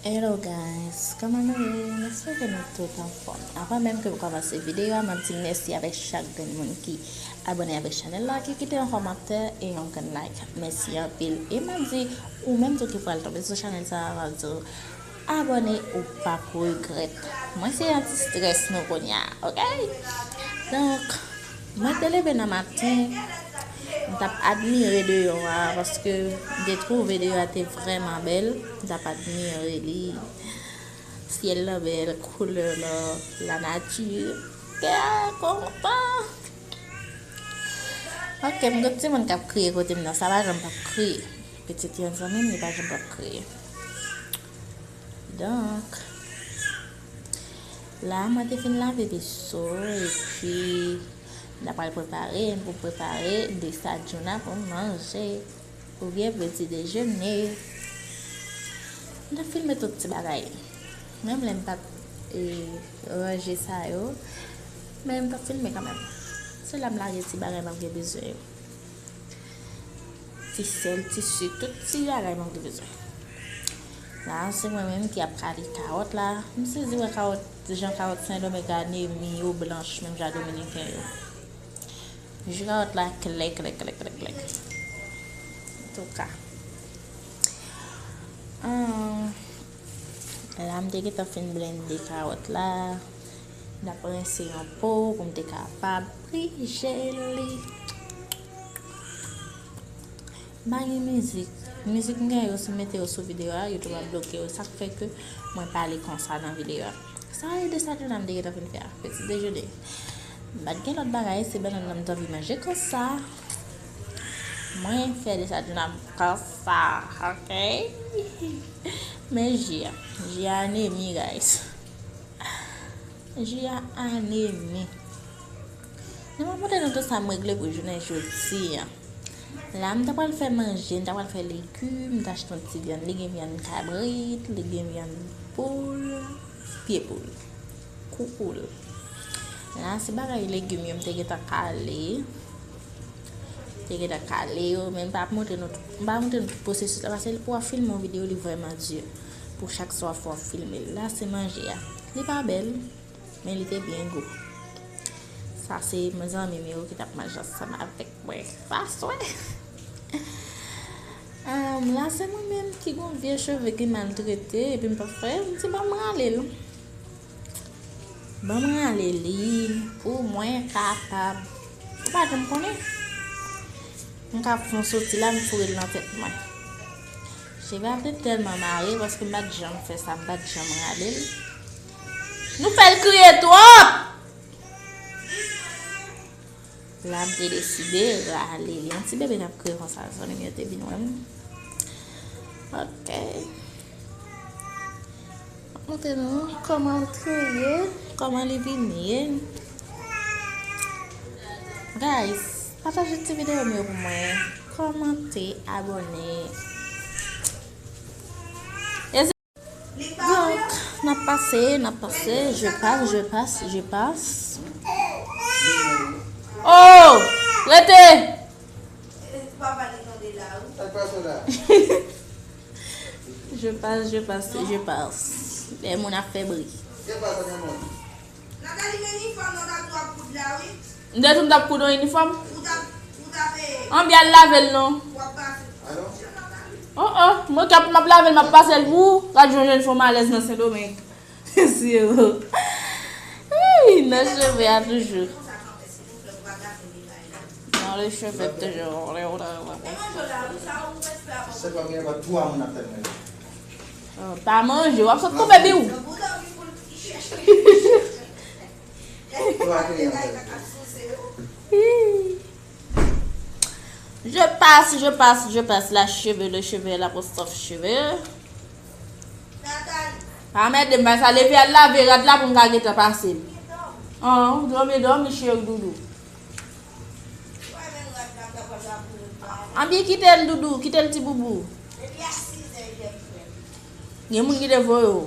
Hello guys, kòman nou ye? M espere ke nou tout anfòm. Avan menm ke m kòmanse videyo a, m ap di mèsi avèk chak grenn moun ki abone avèk chanèl la, ki kite yon kòmantè e yon grenn like. Mèsi anpil. E m ap di ou menm tou ki pral tonbe sou chanèl sa a, m ap di w abone ou p ap regrèt. Mwen se anti strès nou kounye a, ok? Donk, Mwen te leve nan maten, m t ap admire deyò a, paske m te twouve deyò a te vrèman bèl. M t ap admire li, syèl lan bèl, koulè lò, lanati. Kè a kontan. Ok, m gen timoun k ap kriye kote m nan, sa pa janm p ap kriye. Pitit yon zanmi m, li pa janm p ap kriye. Donk. La mwen te fin lave veso epi la pral prepare pou prepare de sa djouna pou manje ou byen pou ti dejene la fin me tout ti bagay menm lèm pat e ranje sa yo menm ta fin me kanmèm se la m lage ti bagay map gen bezwen yo Fisèl, tisi, tout ti bagay moun te bezwen. La a se mwen menm ki ap kale kawòt la. M sezi wè kawòt, jan kawòt sendomeng anemi yo blanch menm jan dominiken yo. Jou kawòt la klè klè klè klè klè. Antouka. An, la m te gentan fin blende kawòt la. Nap rense yon po pou m te kapab prije li. Ba gen mizik. Mizik m gen yo si m mete yo sou videyo a, YouTube ap bloke yo. Sak fè ke mwen pale konsa nan videyo a. Sa e de sa Djouna m te gentan fin fè a. Peti dejene. M pat gen lòt bagay, se banann nan m t anvi manje konsa. Mwen fè de sa Djouna m konsa. Ok. Men ji a. Ji a anemi guys. Ji a anemi. Nan mwen pote nou tout sa m regle pou jounen jodi a. La m ta pral fè manje, m ta pral fè legume, m ta achte yon ti vyann. Li gen vyann kabrit, li gen vyann poul, pye poul, kou poul. La se bagay legume yo m te gentan kale. M te gentan kale yo men m pa montre nou tout pwosesis la. Pase lè pou w ap filme yon videyo li vrèman di. pou chak swa fwa w filme l la se manje a li pa bèl men li te byen gou sa se zanmi m yo ki tap manje ansanm avèk mwen sa swe m la se mwen menm ki gon vye cheve ki mal trete epi m pap fè m di ban m rale l ban m rale li pou mwen kapab ou pa janm konnen m ka fon soti la m foure l nan tèt mwen Cheva te tèlman mare paske m pa t janm fè sa, m pa t janm rale l. Nou fè l kriye twòp! Lam te deside rale l. Yon ti bebe k ap kriye konsa, zanmi m yo te vin wè m. Ok. M montre nou kòman l kriye, kòman li vin ye. Guys! Pataje ti video m yo pou mwen komante abone. M te di m t ap koud yon inifòm. Anbyen al lave l non. Oh oh, mwen k ap m ap lave l m ap pase l pou ou. Gad jan w jwenn fo malèz nan Sendomeng. Siro. Ii, nan cheve a toujou. Nan le cheve toujou. Pa manje, w ap sot koupe bi ou. Je passe, je passe, je passe la cheve, le cheve, la postof cheve. A mè de mè sa leve al la ve rad la pou mga geta passe. An, dòm e dòm, mi cheve doudou. An bi kite l doudou, kite l ti boubou. Gen moun ki te voye ou.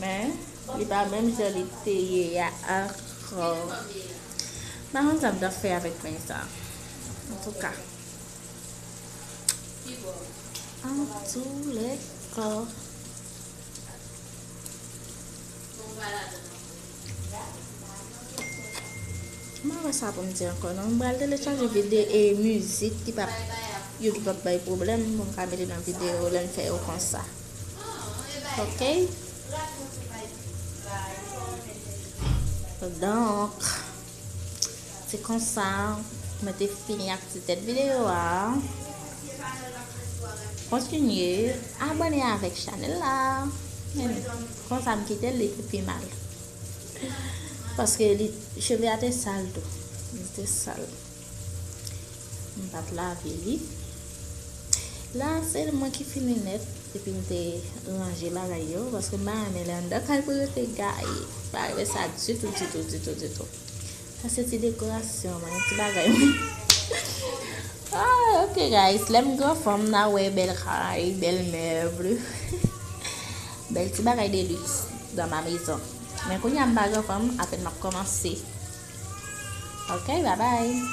Men, li pa menm jan li te ye a ankò. M pa konn sa m ta fè avèk peny sa. Antouka. Antoulèka. M pa wè sa pou m di ankò non. M pral telechaje vide e mizik ki pa yo ki pa bay pwoblèm pou m ka mete nan videyo lè m fè yo konsa. Ok. Donk, se konsa mwen te fini ak ti tèt videyo a. Kontinye abone avèk chanel la. Konsa m kite li pou pi mal. Paske li cheve a te sal tou. Li te sal. M pat lave li. La se mwen ki fini nèt epi m te ranje bagay yo paske m pa renmen lè anndan kay pou rete gaye. M pa renmen sa ditou ditou ditou ditou. Sa se ti dekorasyon mwen, ti bagay mwen. Ok guys, lè m gran fanm na wè bèl kay, bèl mèbl, bèl ti bagay de luxe dans ma maison. Men kounya m pa gran fanm, apèn m ap kòmanse. Ok, babay!